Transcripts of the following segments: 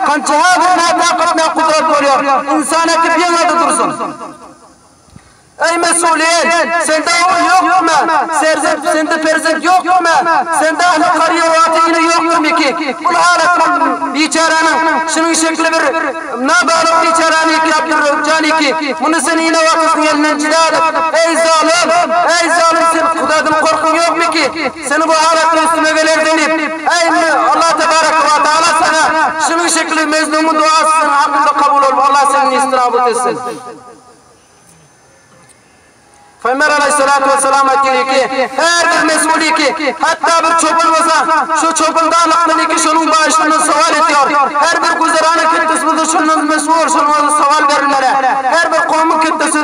Gançaga bir nätap gitmek gudrat bolýar, ynsan äkip ýygnady dursun. Eý mesulýen, sende ogul ýokdurmy? Serzent, sende perzent ýokdurmy? Sende ähli karyýa wagty ine ýokdurmyki? Bul halat bul biçäräniň, şunuň şekili bir nabalyk biçäräni ýykyap durjanyki. Muny sen ine wagty şuň elinden jyda edip. Eý zalym! Eý zalym, sen Hudadan gorkuň ýokmyki? Seni bu alatdan üstüme geler diýip, Äý, Allah tebareke we taala saňa şunuň şekili Mejnunyň duasy seň hakyňda kabul bolup, Allah seni nestinabut etsin. Pygamber alaýhyssalatu wessalam aýtdy ki, Her bir mesuli ki, hatda bir çopan bolsa, şu çopan da Allahdan iki şonuň bagyşyndan sowal etýär. Her bir güzeranyň ketdesi bolsa, şondan mesbur, şonuň özüne sowal berilmeli. Her bir kowmuň ketdesi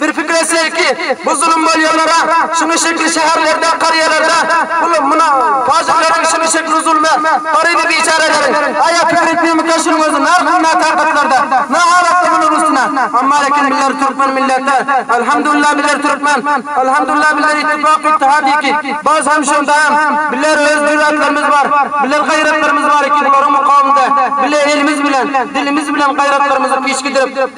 Bir pikir etselikki, bu zulum bolýanlara, şunuň şekili şäherlerde, karýalarda, bul, muna, pajyklary, şunuň şekili zuluma, garyby biçäreleri, aýa pikir etmemekkä şunuň özi nahili natakatlarda, nahalatda bular üstüne, amma lekin bizler türkmen milletler, Alhamdulillah bizler türkmen, Alhamdulillah bizler ittifak, ittihad iki, baz hem şonda hem bizler öz jürätlerimiz bar, bizler gaýratlarymyz bar iki bularyň mukawymynda bile elimiz bilen, dilimiz bilen gaýratlarymyzy piş gidirip,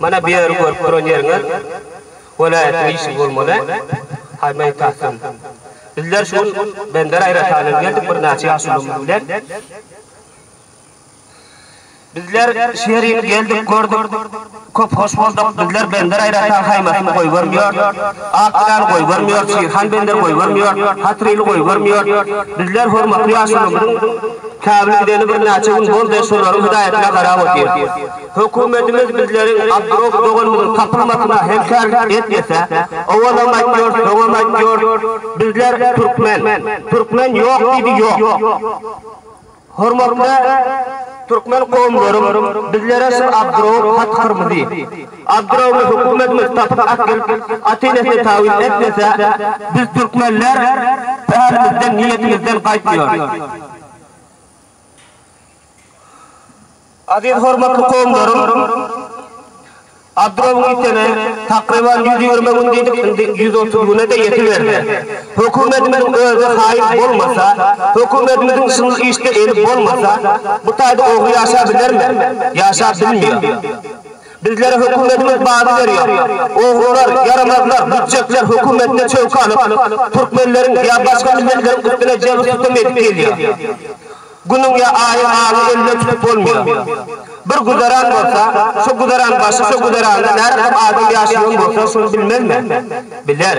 Mana bu ýeri görüp duran ýeriňiz welaýatyň işigi bolmaly. Haý Meýtahjan. Bizler şu gün Bender aýratanyny geldik birnäçe ýaşulymyz bilen. Bizler şu ýerini geldik gördük. Köp hoş bolduk. Bizler Bender aýratan haýmatyny goýbermýor. Ak ýylany goýbermýor. Şirhan Bender goýbermýor. Hatryly goýbermýor. Bizler hormatly ýaşulymyzyň käbili gideni birnäçe gün boldy. Şolaryň hydaýatyna garap otyr. Hökümetimiz bizleriň Abdrof doganymyzyň tapylmasyna hemkärlik etmese, owalam aýtýar, soňam aýtýar, bizler türkmen, türkmen ýok diýdi, ýok. Hormatly türkmen kowumlarym, bizlere şul Abdrow hat kyrmyzy. Abdrowly hökümetimiz tapyp äkidip, Atenesine tawyz etmese, biz türkmenler pälimizden, niýetimizden gaýtmaýarys. Aziz hormatly kowumlarym, Abdrow Ýitene takryban ýüz ýigrimi gün diýdik, indi ýüz otuz güne-de ýetiberdi. Hökümetimiziň özi haýyp bolmasa, hökümetimiziň şuny işde eli bolmasa, bu taýda ogry ýaşabilermi? Ýaşap bilmeýär. Bizlere hökümetimiz bagy berýär. Ogrular, ýaramazlar, lütjekler hökümetine çöwki alyp, türkmenleriň ýa başga milletleriň üstüne jebir-sütem edip gelýär. Günüň ýa aýyň alyny elden tutup bolmaýar. Bir güzeran bolsa, şo güzeran başy, şo güzeranda närakat adam ýaşaýan bolsa, şony bilmezmi? Biler.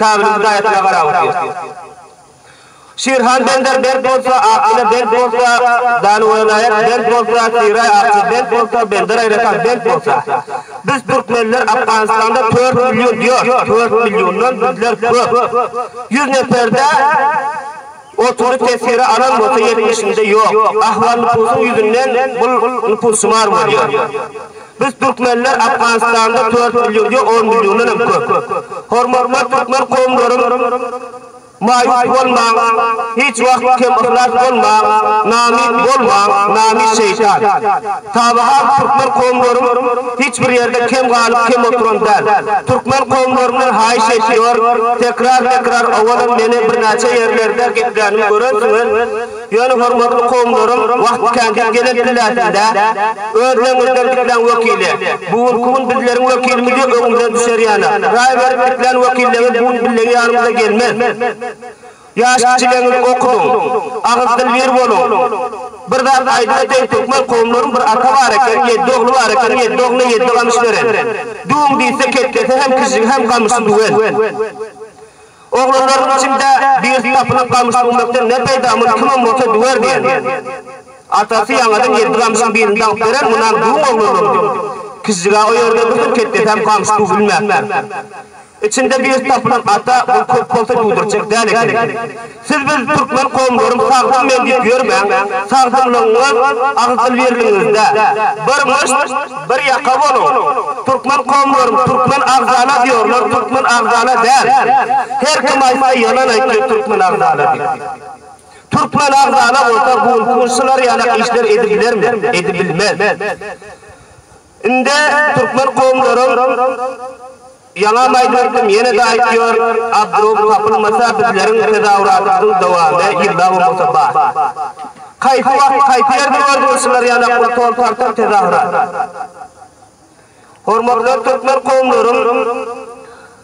Kabylyň daýysyna garap otyr. Şirhan bender bent bolsa, Akyla bent bolsa, Danuwelaýat bent bolsa, Siraý Akçy bent bolsa, Bendereýratan bent bolsa. Biz türkmenler Afganystanda tört million diýor, tört milliondan bizler köp. Ýüz neper-dä. Otuzy tesiri alan bolsa ýetmişinde ýok. Ahwal nupusyň ýüzünden bul nupusşumar bolýar. Biz türkmenler Afganistanda tört million ýok on milliondanam köp. Hormatly türkmen kowumlarym maýus bolmaň hiç wagt kem yhlas bolmaň namyt bolmaň namyt şeýtan. Taby has türkmen kowumlaryň hiç bir ýerde kem galyp kem oturan däl. Türkmen kowumlaryndan haýyş etýor, tekrar tekrar owadan meni birnäçe ýerlerde geplänimi görensiňiz, ýöne hormatly kowumlarym wagt kän diýip gelen pillesinde öz deňiňizden gitmäň wekili, bu günki gün bizleriň wekilimiz ýok öňümizden düşer ýana, raý berip gitlän wekilleňiz bu gün billegi ýanymyza gelmez. Ýaş kişilerňiz okudyň, agyz-dil bir boluň. Bir zat aýdyla deý türkmen kowumlaryň bir ata bar eken, ýedi ogly bar eken, ýedi ogluna ýedi gamyş beren. Düwüň diýse ketlese hem kižžigi hem gamyşy düwen. Oglanlarynyň içinde birisi tapylyp gamyş düwmekden ne peýda, muny kimem bolsa düwer diýen. Atasy ýaňadan ýedi gamyşyň birini dagyp beren, munam düwüň oglanlaryňdy. Kižžig-ä o ýerde dursun, ketlese hem gamyş düwülmäpdir. Içinde bir tapylan ata bul köp bolsa duydurjak dal ekeni. Siz biz Türkmen komlaryň sagdyn men diyip yörmäň, sagdynlygyňyz agyz-dil birligiňizde. Bir myşt, bir yaka boluň. Türkmen komlaryň Türkmen agzala diyorlar Türkmen agzala dal. Her kim aytsa yalan aytyo Türkmen agzala diyip. Türkmen agzala bolsa bu gün şular yala işler edibilermi? Edibilmez. Inde türkmen kowumlaram ýaňam aýdyberdim ýene-de aýtýar abdrowy tapylmasa bizleriň tezawuratymyzyň dowamy ýyllap bolmasa bar. Kaýsy wagt kaýsy ýerde gördüňiz şular ýaly pul tol tartan tezawurat. Hormatly türkmen kowumlarym.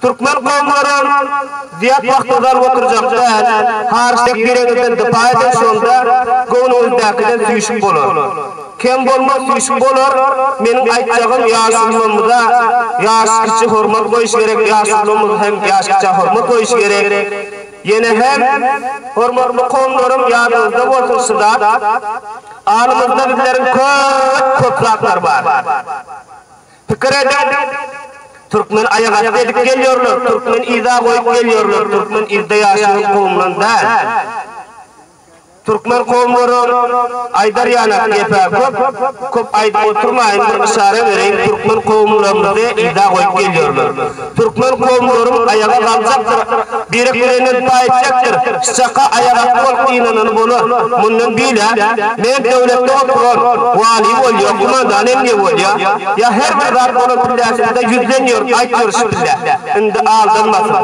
Türkmen kowumlary zýat wagt ozal oturjak däl, hariç tek bireňizden dypa eden şonda göwnüňizdäkiden süýşüp bolar. Kem bolmaz süýşüp bolar, meniň aýtjagym ýaşullamyza ýaş kiçi hormat goýuş gerek ýaşullamyz hem ýaş kiçä hormat goýuş gerek. Ýene hem hormatly kowumlarym ýadyňyzda bolsun şu zat, alymyzda bizleriň köp köp zatlar bar. Pikir edip, Türkmen aýagasty edip gelýärler, türkmen yza goýup gelýärler, türkmen yzda ýaşaýan kowumdan däl. Türkmen kowumlary aýdar ýanak gep-ä köp, köp aýdyp oturmaýyn, bir yşara bereýin, türkmen kowumlarymyzy yza goýup gelýärler. Türkmen kowumlaryň aýaga galjakdyr, birek birenden paý etjekdir, şşaka aýagasty bolup gynanany bola. Mundan bilä, men döwletde oturan, waly bolýa, kumandan emmi bolýa, ýa her bir zat bolan pillesinde ýüzden ýör, aýt ýör şu pille. Indi aldanmasyn.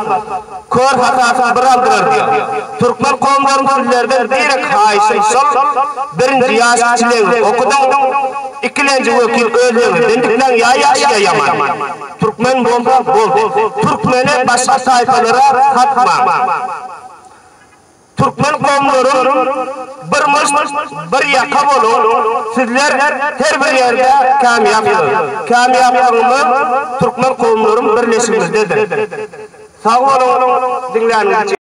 Kör hasasyny bir aldyrar diýä. Türkmen kowumlaryň sizlerden birek haýyşym şol, birinji ýaş kiçilegiňi okudyň, ikilenji wekil öz döwründen dikleň ýa ýagşy ýa ýaman. Türkmen bolsaň boldy. Türkmene başga taýpalara satmaň. Türkmen kowumlaryň bir myşt, bir ýaka boluň. Sizler her bir ýerde kämýapsyňyz. Kämýaplygymyz türkmen kowumlaryň birleşigimizdedir. Sag boluň diňläniňiz üçin.